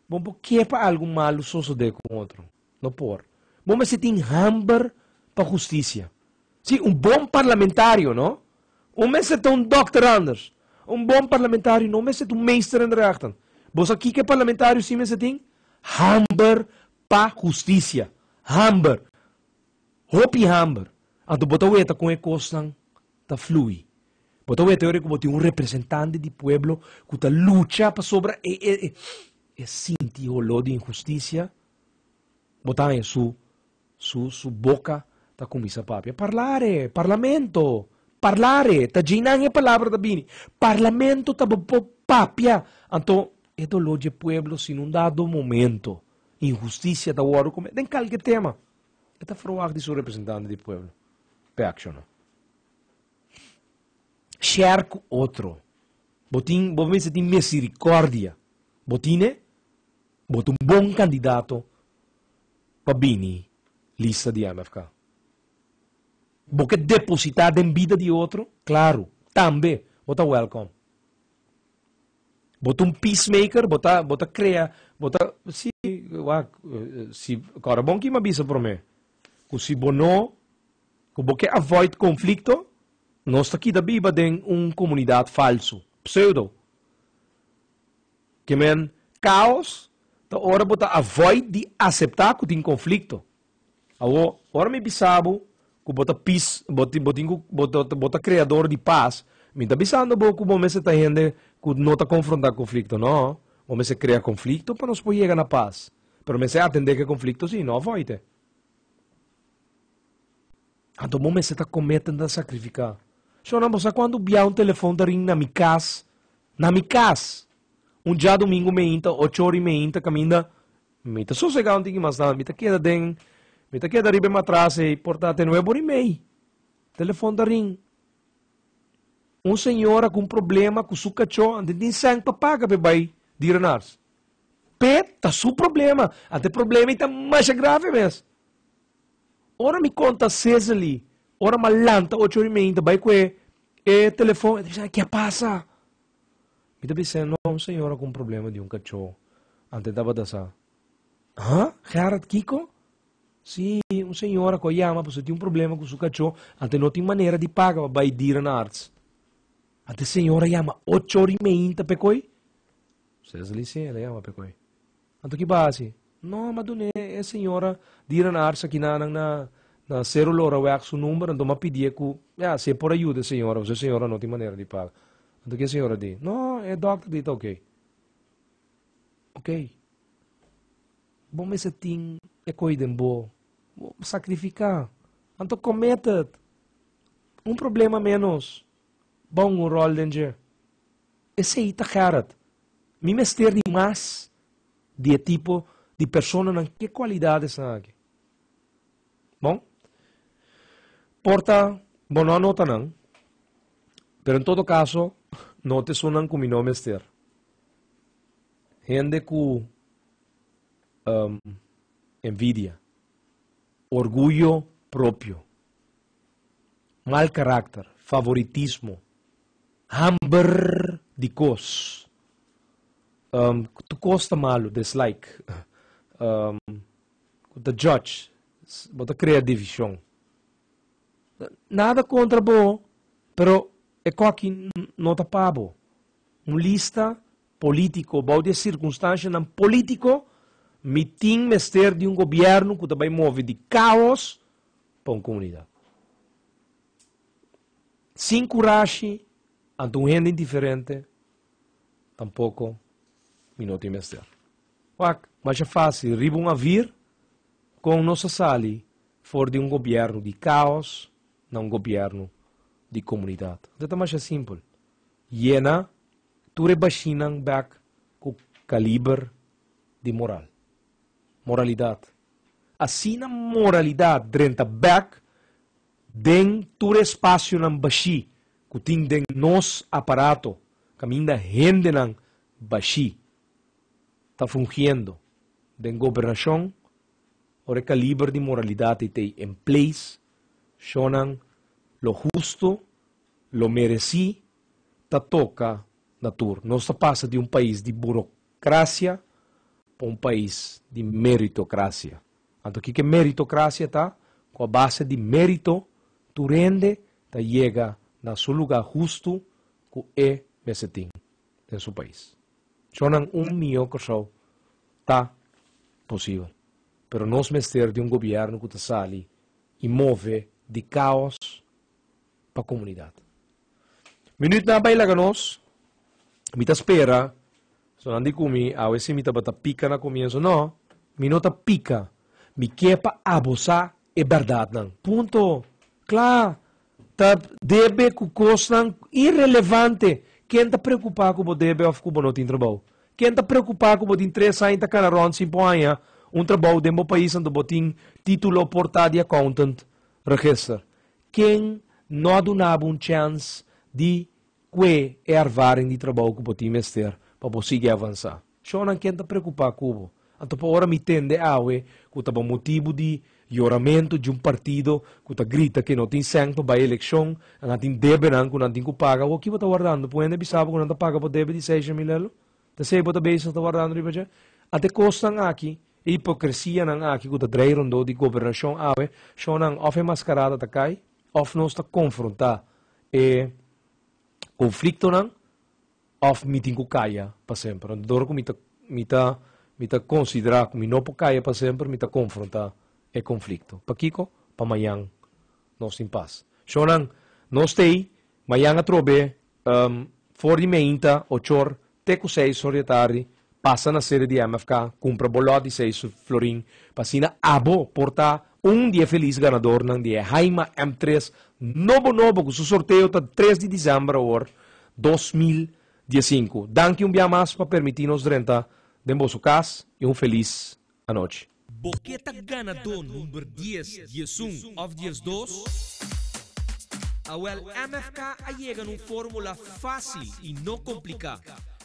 C: bo por ke pa algo malo sosode con otro. lo por. Bo mester tin hamber pa husticia. Si, un bon parlamentario, no un mester ta un dokter anders. Un bon parlamentario no mester ta un meester in de rechten. Bo sa kiko e parlamentario si mester tin? Hamber pa husticia. Hamber. Hopi hamber. Anto bo ta weta kon e kosnan ta flui. Bo ta weta yori ku bo tin un representante di pueblo ku ta lucha pasobra e sinti holó di inhusticia. Bo ta haña su su su boka ta kuminsá papia. Parlare! Parlamento! Parlare! Ta djei nan e palabra ta bini. Parlamento ta bo por papia. Anto e doló dje pueblo si no dado momento inhustisia ta wòrdu kometé den kalke tema e ta ferwagt di su representante di pueblo pa e akshoná. Share ku otro. Bo tin bo mester tin misirikòrdia. Bo tine? Bo ta un bon candidato pa bini lista di MFK. Bo ke deposita den bida di otro? Claro, tambe bo ta welcome. Bo ta un peacemaker, bo ta bo ta crea, bo ta si wak si kòrda bon ki me bisa prome ku si bo no ku bo ke avoid conflicto nos ta kida biba den un comunidad falso, pseudo. Ke men, Kaos ta ora bo ta avoid di aseptá ku tin konflikto. Awo, ora mi bisa bo ku bo ta pis, bo tin, bo tin ku bo ta, bo ta kreador di pas, mi ta bisando bo ku bo mester ta hende ku no ta konfrontá konflikto. No, bo mester krea konflikto pa nos por yega na pas. Pero mester atendé ku e konflikto si, no avoid e. Anto bo mester ta komete ta sakrifiká. Shona, bo sa kuantu bia un telefòn ta ring na mi kas? Na mi kas! Un djadumingu meinta, ocho ora i meinta kaminda, mi ta sosegá un tiki mas nan. Mi ta keda den, mi ta keda riba e matras ei por ta te nueve ora i mei. Telefòn ta ring. Un señora ku un problema ku su kachó anto e tin sènt pa paga pa e bai dierenarts. P'e ta su problema. Anto e problema ei ta masha grave mes. Ora mi konta Cecily, ora m'a lanta ocho ori meinta bai ku e telefòn, e ta bisa, ke a pasa? Mi ta bis'é, no, un señora ku un problema di un kachó, antes tabata sa. Há? Gerard kiko? Sí, un señora ku a yama pasobra tin un problema ku su kachó, antes no tin manera di paga pa bai dierenarts. Antes e señora yama ocho ori meinta p'e koi? Cecily, Sí, el a yama p'e koi. Anto ki bo a hasi? No, m'a dun'é e señora di Renars aki na nan na na cérulo ora wak su number, anto m'a pidié ku ya si e por a yuda e señora pasobra e señora no tin manera di paga. Anto ki e señora a di, No, e dòkter di ta ok. Ok. Bo mes a tin e koi den bo. Bo sakrifiká. Anto committed. Un problema ménos. Bou un ròl den dje. Esei ta Gerard. Mi mester di mas di e tipo di personanan ku e kualidadesnan aki. Bon, por ta bo no a nota nan, pero en todo kaso note esunnan ku mi no mester. Hende ku envidia, orguyo propio, mal karakter, favoritismo, hamber di kos, ku tur kos ta malu, dislike, ku ta judge, bo ta krea divishon. Nada kontra bo, pero e koki no ta pa bo. Un lista polítiko, bou di e sirkunstanshanan polítiko, mi tin mester di un gobièrnu ku ta bai move di kaos pa un komunidat. Sin kurashi, ante un hende indiferente, tampoko mi no tin mester. Wak, masha fásil riba un avir kon nos a sali for di un gobièrnu di kaos na un gobièrnu di komunidat. Ta masha simpel. Yena Tur e bashinan bek ku kaliber di moral. Moralidat. Asina moralidat drenta bek den tur e spasionan bashi ku tin den nos aparato kaminda hendenan bashi ta fungiendo den gobernashon, ora e kaliber di moralidat ei ta ei en place, shonnan lo husto, lo meresí ta toca na tur. Nos ta pasa di un pais di burocracia pa un pais di meritocracia. Anto kico meritocracia ta? Cu a base di merito tur hende ta yega na su lugar hustu cu e mester tin den su pais. Chonan un miyo Corsou ta posibel. Pero nos mester di un gobierno cu ta sali y move di caos pa komunidat. Minütnan a bai laga nos. Mi ta spera, so nan di ku mi, awe si mi tabata pika na komienso. No, mi no ta pika. Mi ke pa abo sa e bèrdatnan. Punto. Kla! Ta debe ku kosnan irelevante. Ken ta preokupá ku bo debe òf ku bo no tin trabou? Ken ta preokupá ku bo tin tres aña ta kana rònt sin por haña un trabou den bo pais anto bo tin título por ta di accountant regester? ken no a duna bo un chèns di kue e ervaring di trabou ku bo tin mester pa bo sigui avansá? Shònan ken ta preokupá ku bo? Anto pa ora mi tende awe ku ta bo motibu di yoramentu dje un partido ku ta grita ke no tin sèn pa bai elekshon, nan a tin debenan ku nan tin ku paga. Awor kibo ta wardando? Por hende a bisa bo ku nan ta paga bo debe di seis shemilelo? Ta ser bo ta bezig ta wardando riba dje? A t'e kosnan aki, e hipokresianan aki ku ta drai rondó di gobernashon awe, shonnan òf e maskarada ta kai, òf nos ta konfrontá e konfliktonan, òf mi tin ku kaya pa semper. Anto ora ku mi ta mi ta mi ta konsiderá ku mi no por kaya pa semper, mi ta konfrontá e konflikto. Pakiko? Pa mañan nos tin pas. Shonnan, nos t'ei mañan atrobe For di meinta, ochor, te ku seis hor di atardi, pasa na sede di MFK, kumpra bo lòt di seis florin, pa asina abo por ta un di e felis ganadornan di e Haima M tres nobo nobo ku su sorteo ta tres di Desèmber awor dos mil dies sinku. Danki un bia mas pa permití nos drenta den boso kas i un felis anochi. Bo ke ta
A: ganadó number dies, dies un òf dies dos? Awèl MFK a yega na un fórmula fásil i no kompliká,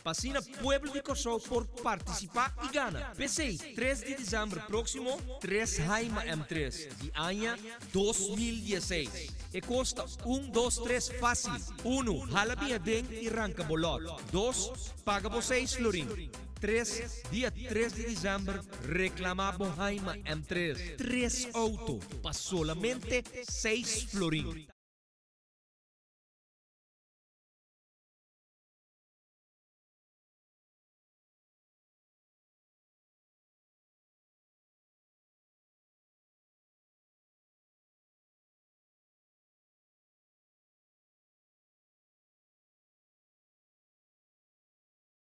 A: pa asina pueblo di Kòrsou por partisipá i gana. P'esei, tres di desèmber próksimo, tres hai ma M tres di aña dos mil dieseis. E kos ta un dos tres fásil. Unu, hala biaden i ranka bo lòt. Dos, paga bo seis florin. Tres, Dia tres di December reclama bo haima M. Tres, tres auto pa solamente seis florin.